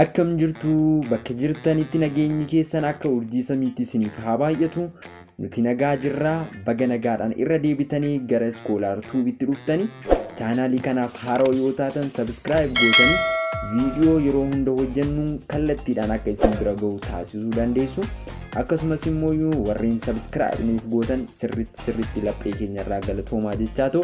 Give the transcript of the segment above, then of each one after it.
Akkam jirtu bakka jirtanitti nageenyi keessan akka urjii samiitti isiniif haa baay'atu nuti nagaa jirraa baga nagaadhaan irra deebitanii gara iskoolaar tuubitti dhuftanii chaanaalii kanaaf haaroo yoo taatan sabiskiraayib gootanii viidiyoo yeroo hunda hojjennu kallattiidhaan akka isin bira ga'u taasisuu dandeessu akkasumas immoo warreen sabiskiraayib nuuf gootan sirritti sirritti laphee keenyarraa galatoomaa jechaa ta'u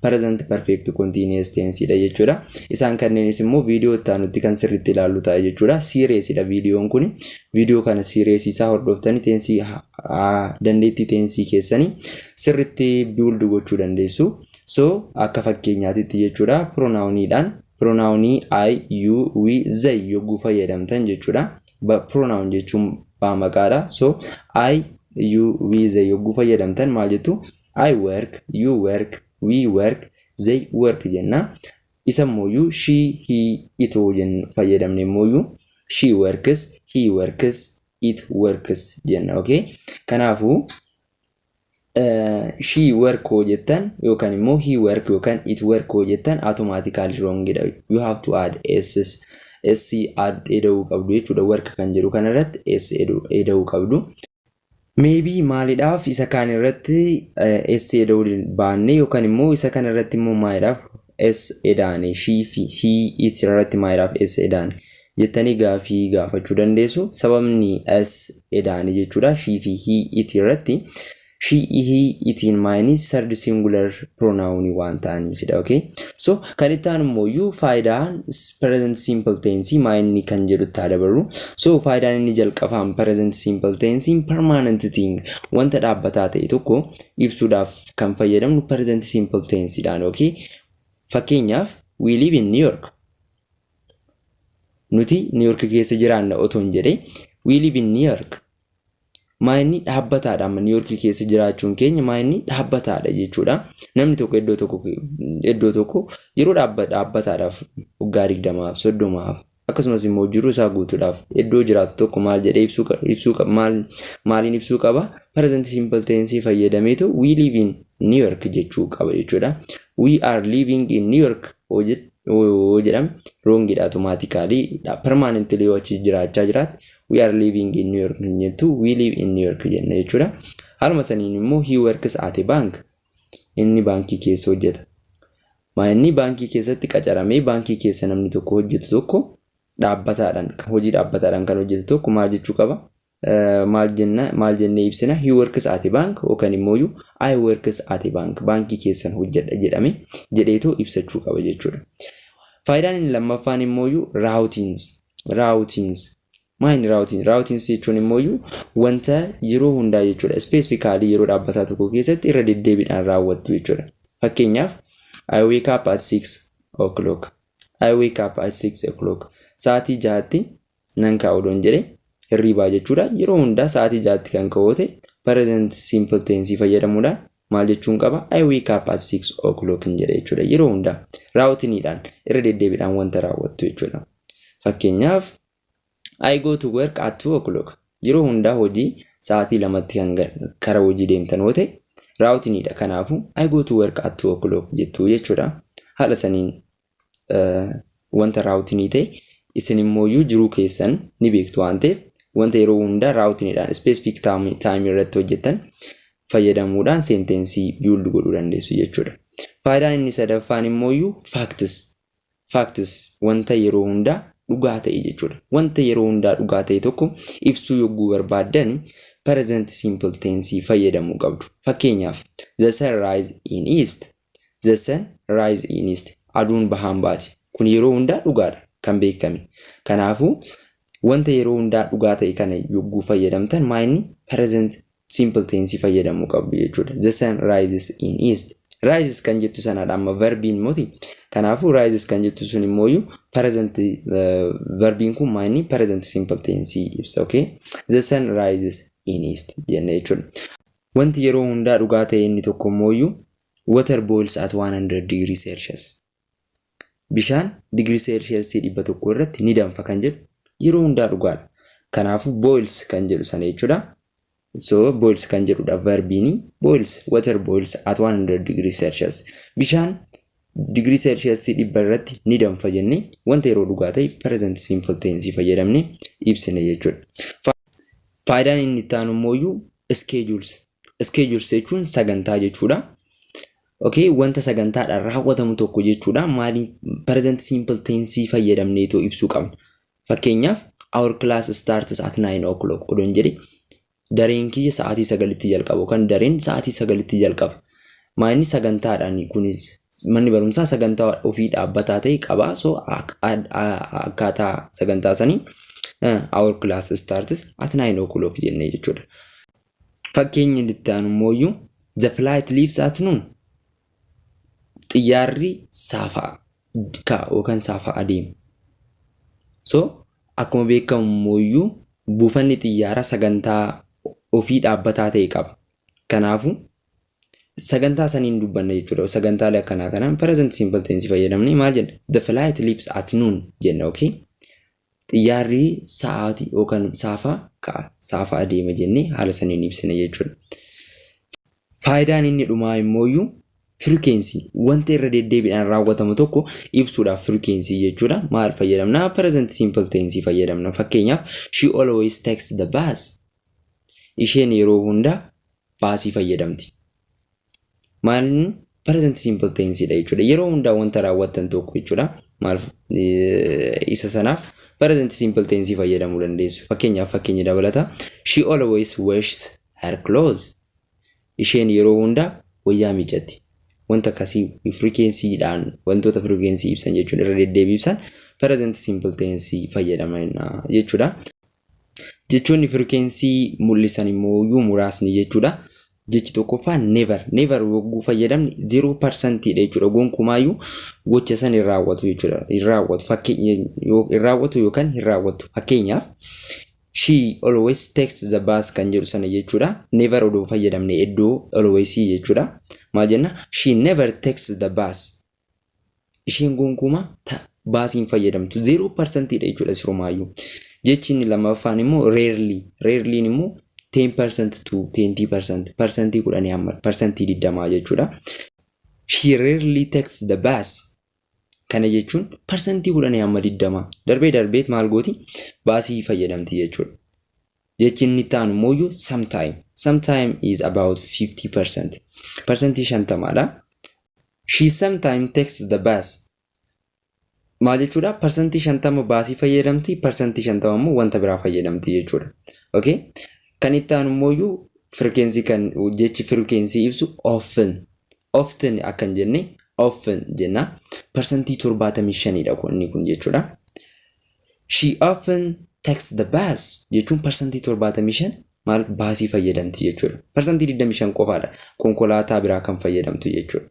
Present Perfect Continuous Tense dha jechuudha. Isaan kanneenis immoo viidiyoo itti aanutti kan sirriitti ilaallu ta'a jechuudha. Siireesii dha viidiyoon kun. Viidiyoo kana siireesii isaa hordoftanii teensii dandeettii teensii keessanii sirriitti biild gochuu dandeessu. So akka fakkeenyaatitti jechuudha pronaawuniidhaan pronaawunii I, you, we, they yogguu fayyadamtan jechuudha. Pronaawun jechuun baamaqaadha. So I, you, we, they yogguu fayyadamtan maal jettu? I work, you work, we work, they work jenna. Isa mooyyuu she, he, it hoo jennu fayyadamne mooyyuu she works, he works, it works jenna. Okay? Kanaafuu she work hoo jettan yookaan immoo he work yookaan it work hoo jettan automatically wrong dha. You have to add s's. S add eda'uu qabdu jechuudha. Work kan jedhu kanarratti s eda'uu qabdu. Maybe maalidhaaf isa kaan irratti S eda'uu baanne yookaan immoo isa kana irratti immoo maalidhaaf S edaane she fi he it irratti maalidhaaf S edaane jettanii gaafii gaafachuu dandeessu. Sababni S edaane jechuudha she fi he it irratti she he itiin maayinii third singular pronoun waan ta'aniifidha. Okay? So Kan itti aanu immooyyuu faayidaa present simple tense maa inni kan jedhutti haa dabarru. So faayidaan inni jalqabaan present simple tense permanent thing wanta dhaabbataa ta'e tokko ibsuudhaaf kan fayyadamnu present simple tense dhaan okay. Fakkeenyaaf we live in New York. Nuti New York keessa jiraanna otoon jedhee we live in New York. Maayinni dhaabbataadha amma Niiyorkii keessa jiraachuun keenya maayinni dhaabbataadha jechuudha. Namni tokko iddoo tokko iddoo tokko yeroo dhaabba- dhaabbataadhaaf waggaa digdamaaf soddomaaf akkasumas immoo jiruu isaa guutuudhaaf iddoo jiraatu tokko maal jedhee ibsuu qa- ibsuu qa- maal maaliin ibsuu qaba present simple tense fayyadameetu we live in New York jechuu qaba jechuudha. We are living in New York yoo jet- yoo jedhame roongidha automatically permanently yoo achi jiraachaa jiraatti we are living in New York hin jettu we live in New York jenna jechuudha. Haaluma saniin immoo he works at a bank inni baankii keessa hojjeta. Maa inni baankii keessatti qacaramee baankii keessa namni tokko hojjetu tokko dhaabbataadhaan hojii dhaabbataadhaan kan hojjetu tokko maal jechuu qaba? Maal jenna maal jennee ibsina he works at a bank yookaan immoo I works at a bank baankii keessan hojjedha jedhame jedheetoo ibsachuu qaba jechuudha. Faayidaan inni lammaffaan immoo raawutiins raawutiins maayini raawutiin raawutiins jechuun immoo wanta yeroo hundaa jechuudha ispeesifikaalii yeroo dhaabbataa tokko keessatti irra deddeebiidhaan raawwattu jechuudha fakkeenyaaf I wake up at 6 o'clock I wake up at 6 o'clock sa'aatii jahatti nan ka'a odoon jedhe hirriibaa jechuudha yeroo hundaa sa'aatii jahatti kan ka'oote present simple tense fayyadamuudhaan maal jechuun qaba? I wake up at 6 o'clock hin jedha jechuudha. Yeroo hundaa raawwatiniidhaan irra deddeebiidhaan wanta raawwattu jechuudha. Fakkeenyaaf I go to work at 2 o'clock. Yeroo hundaa hojii sa'aatii lamatti kan kara hojii deemtan yoo ta'e raawwatiniidha. Kanaafuu I go to work at 2 o'clock jettu jechuudha. Haala saniin wanta raawutinii ta'e isin immooyyuu jiruu keessan ni beektu waan ta'eef wanta yeroo hundaa raawutiniidhaan ispeesifik taayimii irratti hojjettan fayyadamuudhaan seentensii biild godhuu dandeessu jechuudha. Faayidaan inni sadaffaan immooyyuu faaktis faaktis wanta yeroo hundaa dhugaa ta'e jechuudha. Wanta yeroo hundaa dhugaa ta'e tokko ibsuu yogguu barbaaddan present simple tense fayyadamuu qabdu. Fakkeenyaaf the sun rise in east The sun rise in east. Aduun bahaan baati. Kun yeroo hundaa dhugaadha. Kan beekame. Kanaafuu, wanta yeroo hundaa dhugaa ta'e kana yogguu fayyadamtan maa inni present simple tense fayyadamuu qabdu jechuudha. The sun rises in east. Rises kan jettu sanadha amma verbiin moti. Kanaafuu rises kan jettu sun immoo iyyuu present eh, verbiin kun maa inni present simple tense ibsa. Okay? The sun rises in east jenna jechuudha. Wanti yeroo hundaa dhugaa ta'e inni tokko immooyyuu, Water boils at 100 degree Celsius. Bishaan digirii Seelshiyasii 100 irratti ni danfa kan jedhu yeroo hundaa dhugaadha. Kanaafuu boils kan jedhu sana jechuudha. So boils kan jedhudha verbiini. Boils, water boils at 100 degree Celsius. Bishaan digirii seelsheelsii dhibba irratti ni danfa jennee wanta yeroo dhugaa ta'e present simple tense fayyadamne ibsine jechuudha. Faayidaan inni itti aanu immoo schedules. Schedules jechuun sagantaa jechuudha. Okay, wanta sagantaadhaan raawwatamu tokko jechuudha. Maaliin present simple tense fayyadamnee too ibsuu qabna. Fakkeenyaaf our class starts at 9 o'clock odoon jedhe Dareen kiyya sa'aatii sagalitti jalqaba yookaan dareen sa'aatii sagalitti jalqaba. Maa inni sagantaadhaan kun manni barumsaa sagantaa ofii dhaabbataa ta'e qaba. So akkaataa sagantaa sanii our class starts at 9 o'clock jennee jechuudha. Fakkeenyi itti aanu immoo the flight leaves at noon xiyyaarri saafaa ka yookaan saafaa adeema. So akkuma beekamu immooyyuu buufanni xiyyaaraa sagantaa ofii dhaabbataa ta'e qaba. Kanaafu sagantaa saniin dubbanna jechuudha. Sagantaalee akkanaa kanaan present simple tense fayyadamnee maal jenna? The flight leaves at noon jenna okay? Xiyyaarri sa'aati yookan saafa ka'a, saafa adeema jennee haala saniin ibsina jechuudha. Faayidaan inni dhumaa immooyyu firikeensii wanta irra deddeebiidhaan raawwatamu tokko ibsuudhaaf firikeensii jechuudha. Maal fayyadamna? Present simple tense fayyadamna. Fakkeenyaaf she always takes the bus. Isheen yeroo hunda baasii fayyadamti. maalin present simple tense dha jechuudha. Yeroo hundaa wanta raawwattan tokko jechuudha. Maal isa sanaaf present simple tense fayyadamuu dandeessu. Fakkeenyaaf fakkeenya dabalata. She always washes her clothes. Isheen yeroo hundaa wayyaa miiccatti. Wanta akkasii firikeensiidhaan wantoota firikeensii ibsan jechuun irra deddeebii ibsan present simple tense fayyadama jechuudha. Jechoonni firikeensii mul'isan immoo iyyuu muraasni jechuudha. Jechi tokkoffaa never. Never yogguu fayyadamne 0% dha jechuudha. Gonkumaayyuu gocha san hin raawwatu jechuudha. Hin raawwatu fakkeenya hin raawwatu yookaan hin raawwatu. Fakkeenyaaf she always takes the bus kan jedhu sana jechuudha. Never odoo fayyadamne iddoo always jechuudha. Maal jenna? She never takes the bus. isheen gonkumaa ta baasii hin fayyadamtu zeeroo parsantiidha jechuudha sirumaayyuu jechi inni lammaffaan immoo reerlii reerliin immoo 10 percent to 20 percent parsantii kudhanii amma parsantii digdamaa jechuudha she rarely takes the bus kana jechuun parsantii kudhanii amma digdamaa darbee darbeet maal gooti baasii fayyadamti jechuudha Jechi inni itti aanu immoo sometime. Sometime is about 50 percent. Persentii shantamaadha. She sometime takes the bus. Maal jechuudha? Persentii shantama baasii fayyadamti, persentii shantama immoo wanta biraa fayyadamti jechuudha. Okay? Kan itti aanu immoo firkeensii kan jechi firkeensii ibsu often. Often akkan jenne often jenna. Persentii torbaatamii shanidha kun inni kun jechuudha. She often takes the bus jechuun parsantii 75 maal baasii fayyadamti jechuudha. Parsantii 25 qofaadha konkolaataa biraa kan fayyadamtu jechuudha.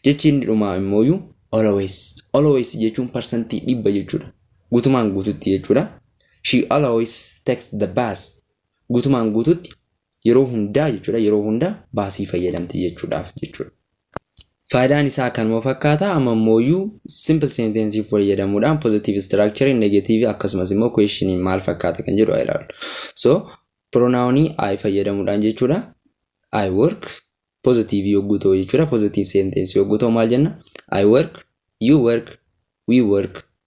Jechi inni dhumaa immooyu always. Always jechuun parsantii dhibba jechuudha. Gutumaan guututti jechuudha. She always takes the bus. Gutumaan guututti yeroo hundaa jechuudha yeroo hunda baasii fayyadamti jechuudhaaf jechuudha. Faayidaan isaa kanuma fakkaata amma immooyyuu simple sentence fayyadamuudhaan positive structure negative akkasumas immoo question maal fakkaata kan jedhu ilaallu. So pronoun I fayyadamuudhaan jechuudha I work positive yogguu ta'u jechuudha positive sentence yogguu ta'u maal jenna I work you work we work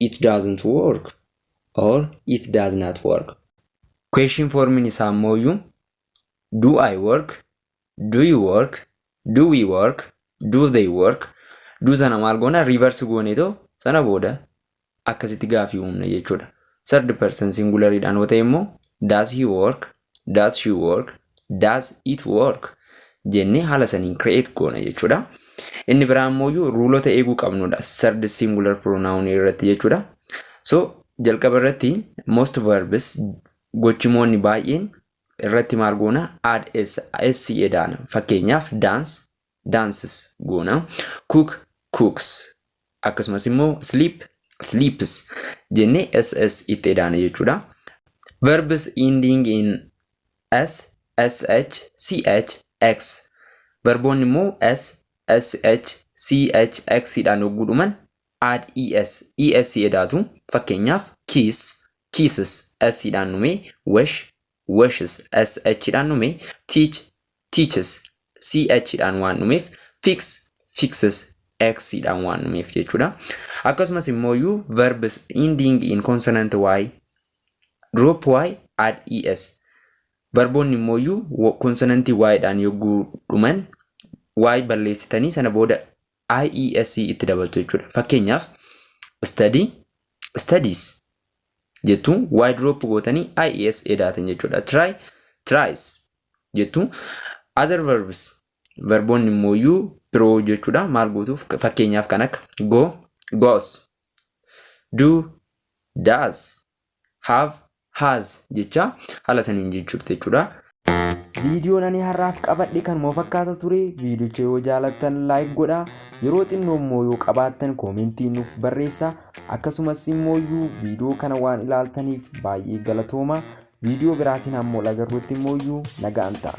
it doesn't work or it does not work. Question formiin isaa ammooyyuu do I work, do you work, do we work, do they work, do sana maal goona reverse gooneetoo sana booda akkasitti gaafii uumna jechuudha. Third person singular dhaan yoo ta'e immoo does he work, Does she work? Does it work? jennee haala saniin create goona jechuudha. Inni biraa ammoo ruulota eeguu qabnudha. Third singular pronoun irratti jechuudha. So jalqaba irratti most verbs gochimoonni baay'een irratti maal goona add s s edaana. Fakkeenyaaf dance, dances goona. Cook cooks akkasumas immoo sleep sleeps jennee ss itti edaana jechuudha. Verbs ending in s, sh, ch, x. Verboonni immoo s, sh, ch, x dhaan yogguu dhuman add es, es edaatu. Fakkeenyaaf kiss, kisses s dhaan dhumee wash, washes, sh dhaan dhume, teach, teaches, ch dhaan waan dhumeef, fix, fixes, x dhaan waan dhumeef jechuudha. Akkasumas immoo iyyuu verbs ending in consonant y, drop y, add es. Verboonni immoo iyyuu konsonantii y dhaan yogguu dhuman y balleessitanii sana booda IES itti dabaltu jechuudha. Fakkeenyaaf study studies jettu y drop gootanii IES edaatan jechuudha. Try tries jettu other verbs verboonni immoo iyyuu biroo jechuudha. Maal gootuuf fakkeenyaaf kan akka go goes do does have, has jechaa haala saniin jijjiirta jechuudha. Viidiyoon ani har'aaf qabadhe kanuma fakkaata ture. Viidiyocha yoo jaalattan like godhaa. Yeroo xinnoo immoo yoo qabaattan koomentii nuuf barreessaa. Akkasumas immoo iyyuu viidiyoo kana waan ilaaltaniif baay'ee galatooma. Viidiyoo biraatiin hamma wal agarruutti immoo iyyuu nagaan ta'a.